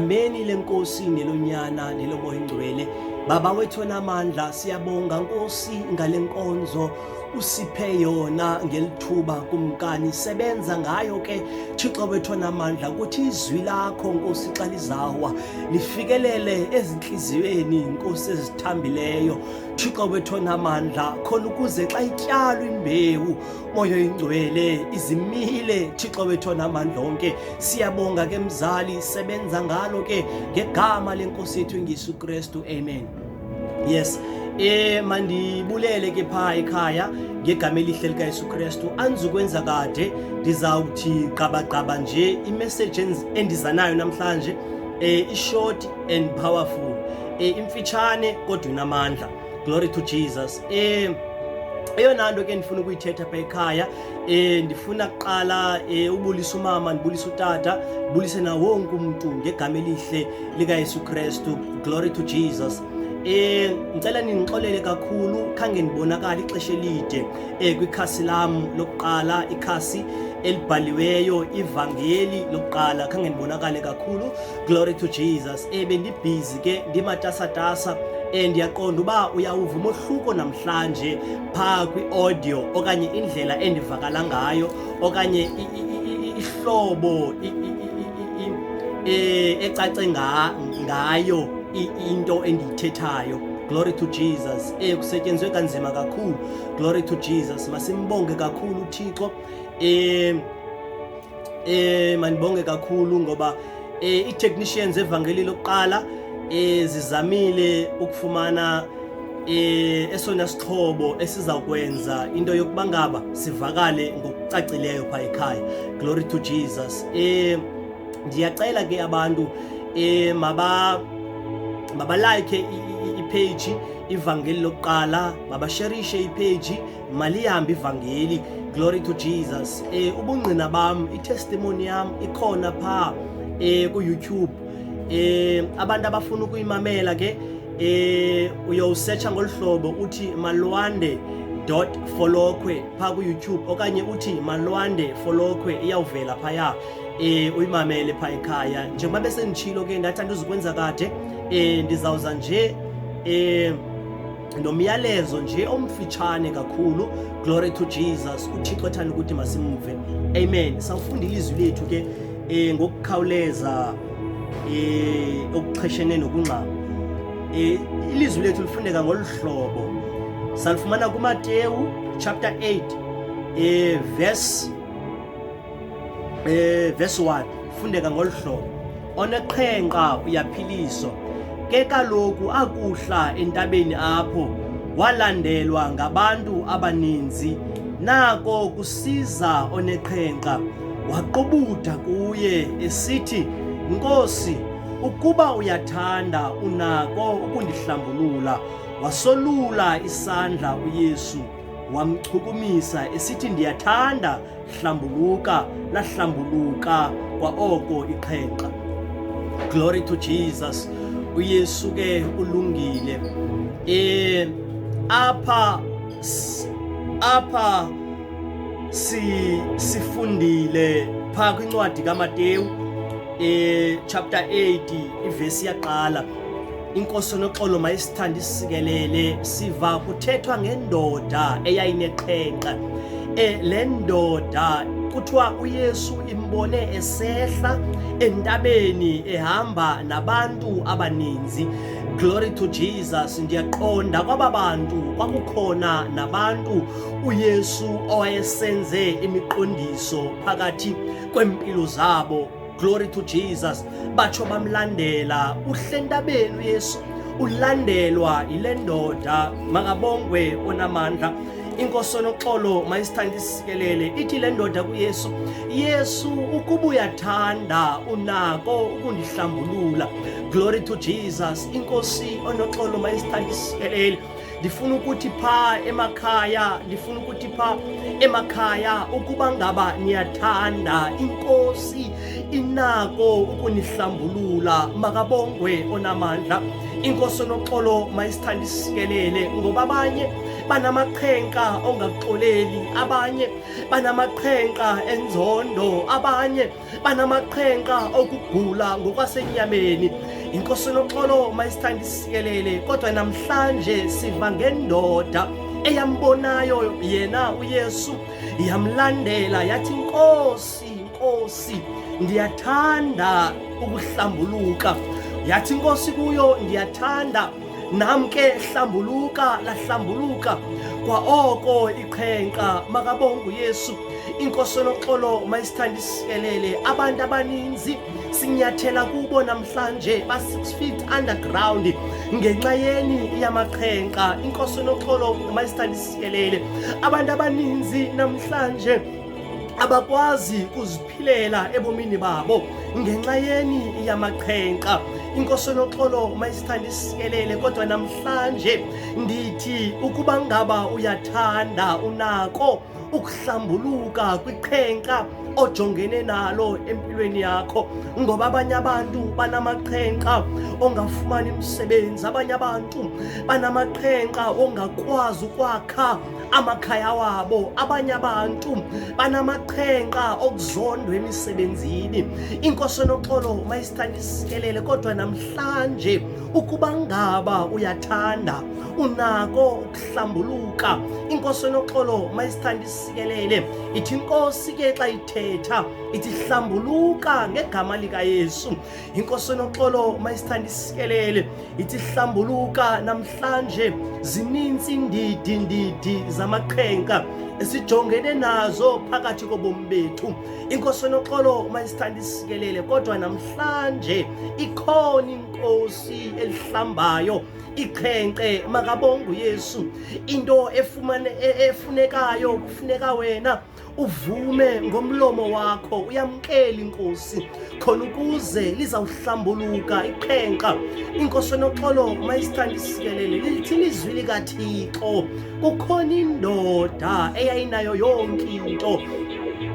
Ameni lenkosi nelonyana nelomoya ingcwele baba wethu namandla siyabonga nkosi ngale nkonzo usiphe yona ngelithuba kumkani sebenza ngayo ke thixo wethu namandla ukuthi izwi lakho nkosi xa lizawa lifikelele ezintliziyweni nkosi ezithambileyo thixo wethu namandla khona ukuze xa ityalwa imbewu moyo ingcwele izimile thixo wethu onamandla onke siyabonga ke mzali sebenza ngalo ke ngegama lenkosi yethu ingisu kristu amen yes eh mandibulele ke phaa ekhaya ngegama elihle likayesu kristu andizukwenza kade ndizawuthi qabaqaba nje imeseji endiza nayo namhlanje um ishort and powerful um imfitshane kodwa inamandla Glory to Jesus. Eh eyona nto ke ndifuna ukuyithetha pha ekhaya um ndifuna kuqala um ubulisa umama ndibulise utata ndibulise na wonke umntu ngegama elihle likayesu kristu glory to jesus Eh ngicela ningixolele kakhulu khange ndibonakala ixesha elide eh kwikhasi lam lokuqala ikhasi elibhaliweyo ivangeli lokuqala khange ndibonakale kakhulu glory to jesus e bendibhizi ke ndimatasatasa um ndiyaqonda uba uyawuva umohluko namhlanje phaa kwi-audio okanye indlela endivakala ngayo okanye ihlobo e, ecace ngayo into endiyithethayo glory to jesus e kusetyenzwe kanzima kakhulu glory to jesus masimbonge kakhulu uthixo um Eh mandibonge kakhulu ngoba eh i-technicians evangeli lokuqala eh zizamile ukufumana eh esona sixhobo esizakwenza into yokuba ngaba sivakale ngokucacileyo pha ekhaya glory to jesus eh ndiyacela ke abantu eh maba mabalike ipage ivangeli lokuqala mabasherishe ipage malihambe ivangeli glory to jesus um ubungqina bam itestimoni yam ikhona phaa um kuyoutube um abantu abafuna ukuyimamela ke um uyowusetsha ngolu hlobo uthi malwande dot folokhwe phaa kuyoutube okanye uthi malwande folokhwe iyawuvela phaya um uyimamele phaa ekhaya njengoba besenditshilo ke ndathi andizukwenza kade um ndizawuza nje um nomyalezo nje omfitshane kakhulu glory to jesus uthixo ethanda ukuthi masimve amen sawufunda ilizwi lethu ke um ngokukhawuleza um okuxheshene nokungxama um ilizwi lethu lifundeka ngolu hlobo salifumana kumatewu chapter 8 um verse um verse 1 fundeka ngolu hlobo oneqhenqa uyaphiliso ke kaloku akuhla entabeni apho walandelwa ngabantu abaninzi nako kusiza oneqhenqa waqubutha kuye esithi nkosi ukuba uyathanda unako ukundihlambulula wasolula isandla uyesu wamchukumisa esithi ndiyathanda hlambuluka lahlambuluka kwaoko iqhenqa glory to jesus uyesu ke ulungile um apha apha si sifundile phaa kwincwadi kamatewu um chapter 8 ivesi yaqala inkosi noxolo mayisithanda isikelele siva kuthethwa ngendoda eyayineqhenqa e, le ndoda kuthiwa uyesu imbone esehla entabeni ehamba nabantu abaninzi glory to jesus ndiyaqonda kwaba bantu kwakukhona nabantu uyesu owayesenze imiqondiso phakathi kweempilo zabo glory to jesus batsho bamlandela uhlentabeni uyesu ulandelwa yile ndoda makabongwe onamandla inkosi onoxolo mayisithanda isikelele ithi le ndoda kuyesu yesu ukuba uyathanda unako ukundihlambulula glory to jesus inkosi onoxolo mayisithanda isikelele ndifuna ukuthi phaa emakhaya ndifuna ukuthi phaa emakhaya ukuba ngaba niyathanda inkosi inako ukunihlambulula makabongwe onamandla inkosi onoxolo mayisithanda isikelele ngoba abanye banamaqhenqa ongaxoleli abanye banamaqhenqa enzondo abanye banamaqhenqa okugula ngokwasenyameni inkosi unoxolo mayisithanda isikelele kodwa namhlanje siva ngendoda eyambonayo yena uyesu yamlandela yathi nkosi nkosi ndiyathanda ukuhlambuluka yathi inkosi kuyo ndiyathanda Nam ke hlambuluka lahlambuluka kwaoko iqhenqa makabongu Yesu inkosi enoxolo mayisithandisikelele abantu abaninzi sinyathela kubo namhlanje ba 6 feet underground ngenxa yeni yamaqhenqa inkosi enoxolo mayisithandisikelele abantu abaninzi namhlanje abakwazi kuzi ukuphilela ebomini babo ngenxa yeni yamaqhenqa inkosi enoxolo mayisithanda isikelele kodwa namhlanje ndithi ukuba ngaba uyathanda unako ukuhlambuluka kwiqhenqa ojongene nalo empilweni yakho ngoba abanye abantu banamaqhenqa ongafumani msebenzi abanye abantu banamaqhenqa ongakwazi ukwakha amakhaya wabo abanye abantu banamaqhenqa okuzondwa emisebenzini inkosi enoxolo mayisithanda isikelele kodwa namhlanje ukuba ngaba uyathanda unako ukuhlambuluka inkosi enoxolo mayisithanda isikelele ithi inkosi ke xa ithetha ithi hlambuluka ngegama likayesu inkosi enoxolo mayisithanda isikelele ithi hlambuluka namhlanje zininzi iindidi ndidi zamaqhenka esijongene nazo phakathi kobomi bethu inkosi enoxolo mayisithanda isikelele kodwa namhlanje ikhona inkosi elihlambayo iqhenqe makabonga uyesu into efumane e-, efunekayo kufuneka wena uvume ngomlomo wakho uyamkele inkosi khona ukuze lizawuhlambuluka iqhenqa inkosi enoxolo mayisithanda isikelele lilithi lizwi likathixo kukhona indoda eyayinayo yonke into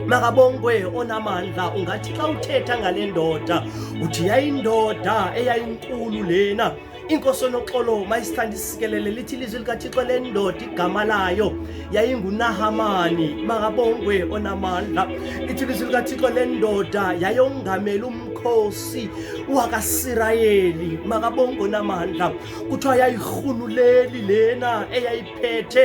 makabongwe onamandla ungathi xa uthetha ngale ndoda uthi yayindoda eyayinkulu lena inkosi onoxolo mayisithanda isikelele lithi ilizwi likathixo lendoda igama layo yayingunahamani makabongwe onamandla ithi ilizwi likathixo lendoda yayongameli umkhosi wakasirayeli makabongwe onamandla kuthiwa yayirhunuleli lena eyayi phethe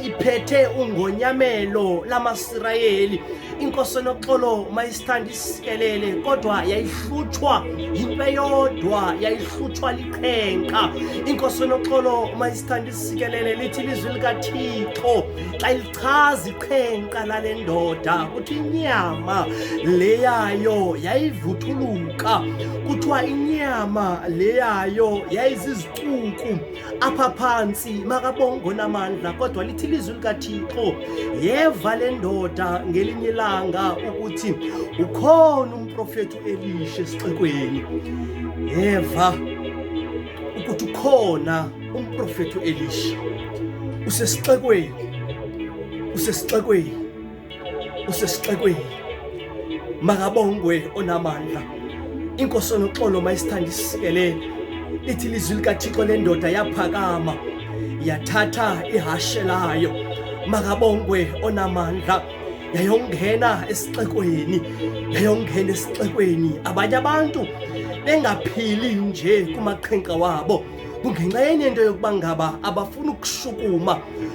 iphethe ungonyamelo lamasirayeli inkosi enoxolo mayisithanda isikelele kodwa yayihlutshwa yinto eyodwa yayihlutshwa liqhenqa inkosi enoxolo mayisithanda isikelele lithi ilizwi likathixo xa ilichaza iqhenqa lale ndoda kuthi inyama leyayo yayivuthuluka kuthiwa inyama leyayo yayizizicuku apha phantsi makabongo namandla kodwa lithi ilizwi likathixo yeva le ndoda ngelinye ilanga ukuthi ukhona umprofethi uelisha esixekweni yeva ukuthi ukhona umprofethi uelisha usesixekweni usesixekweni usesixekweni makabongwe onamandla inkosi onoxolo mayisithanda isikelele lithi ilizwi likathixo lendoda yaphakama yathatha ihashe layo makabongwe onamandla yayongena esixekweni yayongena esixekweni abanye abantu bengaphili nje kumaqhinqa wabo kungenxa yenye into yokuba ngaba abafuni ukushukuma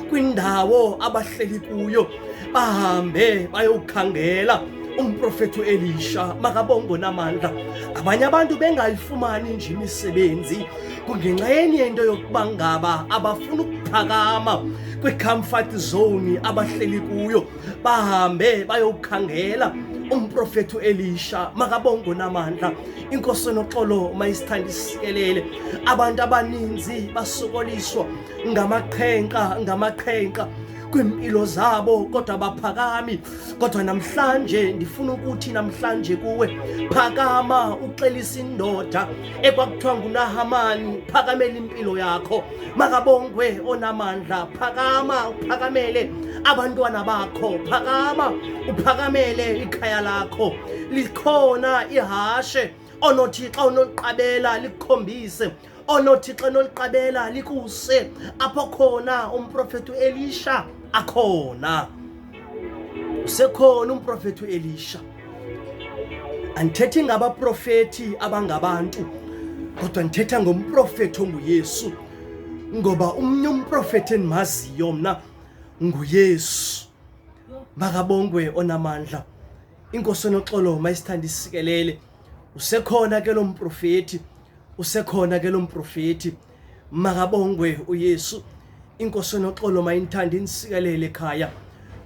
kwindawo abahleli kuyo bahambe bayokhangela umprofethi u-elisha makabongo namandla abanye abantu bengayifumani nje imisebenzi kungenxa yenye into yokuba ngaba abafuni ukuphakama kwicomfort zone abahleli kuyo bahambe bayokhangela umprofethi uElisha makabongo namandla inkosi noxolo mayisithanda isikelele abantu abaninzi basokoliswa ngamaqhenqa ngamaqhenqa kwimpilo zabo kodwa baphakami kodwa namhlanje ndifuna ukuthi namhlanje kuwe phakama uxelisa indoda ekwakuthiwa ngunahamani phakamela impilo yakho makabongwe onamandla phakama uphakamele abantwana bakho phakama uphakamele ikhaya lakho likhona ihashe onothi xa unoliqabela likukhombise onothi xa unoliqabela likuse apho khona umprofethi uelisha akhona usekhona umprofeti uElisha andithethi ngabaprofeti abangabantu kodwa ndithetha ngomprofeti onguYesu ngoba umnye umprofeti endimaziyo mna nguYesu makabongwe onamandla inkosi enoxolo mayisithanda isikelele usekhona ke lo mprofeti usekhona ke lo mprofeti makabongwe uyesu inkosi enoxolo mayinithande inisikelele ekhaya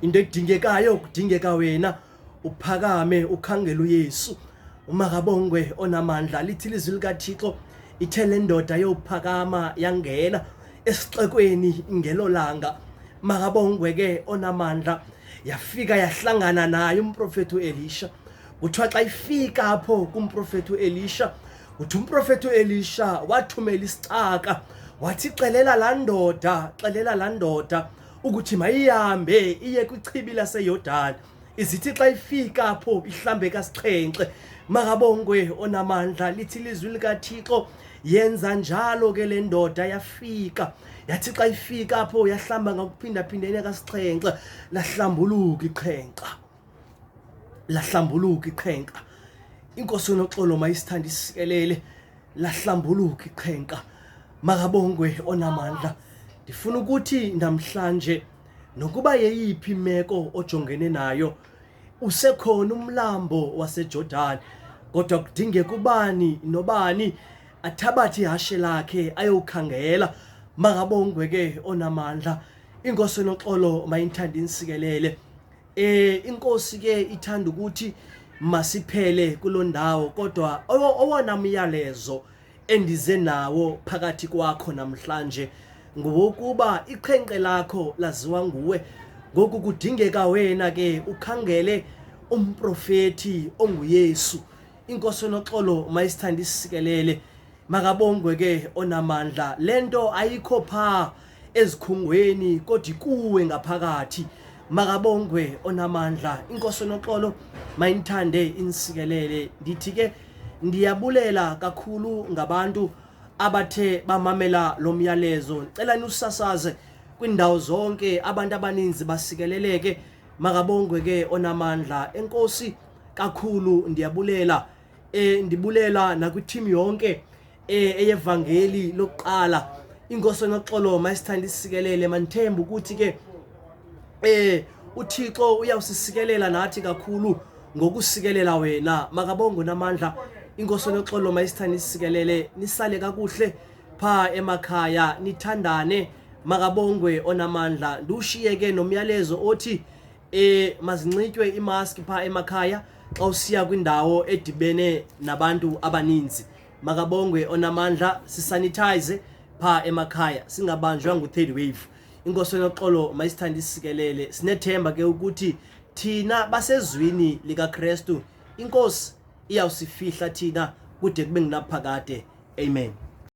into edingekayo kudingeka wena uphakame ukhangela uyesu makabongwe onamandla lithi lizwi likathixo ithe le ndoda yophakama yangena esixekweni ngelo langa makabongwe ke onamandla yafika yahlangana naye umprofeti uElisha kuthiwa xa ifika apho kumprofeti uElisha uthi umprofeti uelisha wathumela isicaka wathi xelela laa ndoda xelela laa ndoda ukuthi mayihambe iye kwichibi laseyordani izithi xa ifika apho ihlambe kasixhenxe makabongwe onamandla lithi lizwi likathixo yenza njalo ke le ndoda yafika yathi xa ifika apho yahlamba ngakuphindaphindene kasixhenxe lahlambuluka ixhenxa lahlambuluka iqhenqa inkosi yonoxolo mayisithanda isikelele lahlambuluka iqhenqa makabongwe onamandla ndifuna ukuthi namhlanje nokuba yeyiphi imeko ojongene nayo usekhona umlambo wasejordani kodwa kudingeka ubani nobani athabathe ihashe lakhe ayowukhangela makabongwe ke onamandla inkosi enoxolo mayinthanda insikelele Eh inkosi ke ithanda ukuthi masiphele kulondawo kodwa owona myalezo endize nawo phakathi kwakho namhlanje ngowokuba iqhenqe lakho laziwa nguwe ngoku kudingeka wena ke ukhangele umprofeti onguYesu inkosi enoxolo mayisithanda isikelele makabongwe ke onamandla le nto ayikho phaa ezikhungweni kodwa kuwe ngaphakathi makabongwe onamandla inkosi noxolo mayinithande inisikelele ndithi ke ndiyabulela kakhulu ngabantu abathe bamamela lo myalezo ndicela niwusasaze kwiindawo zonke abantu abaninzi basikeleleke makabongwe ke onamandla enkosi kakhulu ndiyabulela Eh ndibulela nakwi-team yonke eh eyevangeli lokuqala. Inkosi noxolo mayisithanda isikelele manithemba ukuthi ke eh uThixo uyawusisikelela nathi kakhulu ngokusikelela wena makabongo namandla inkosi noxolo mayisithanda isikelele nisale kakuhle pha emakhaya nithandane makabongwe onamandla ndiwushiyeke nomyalezo othi e mazinxitywe imaski phaa emakhaya xa usiya kwindawo edibene nabantu abaninzi makabongwe onamandla sisanitize phaa emakhaya singabanjwa ngu-third wave inkosi enoxolo mayisithande isikelele sinethemba ke ukuthi thina basezwini likakrestu inkosi iyawusifihla thina kude kube ngunaphakade amen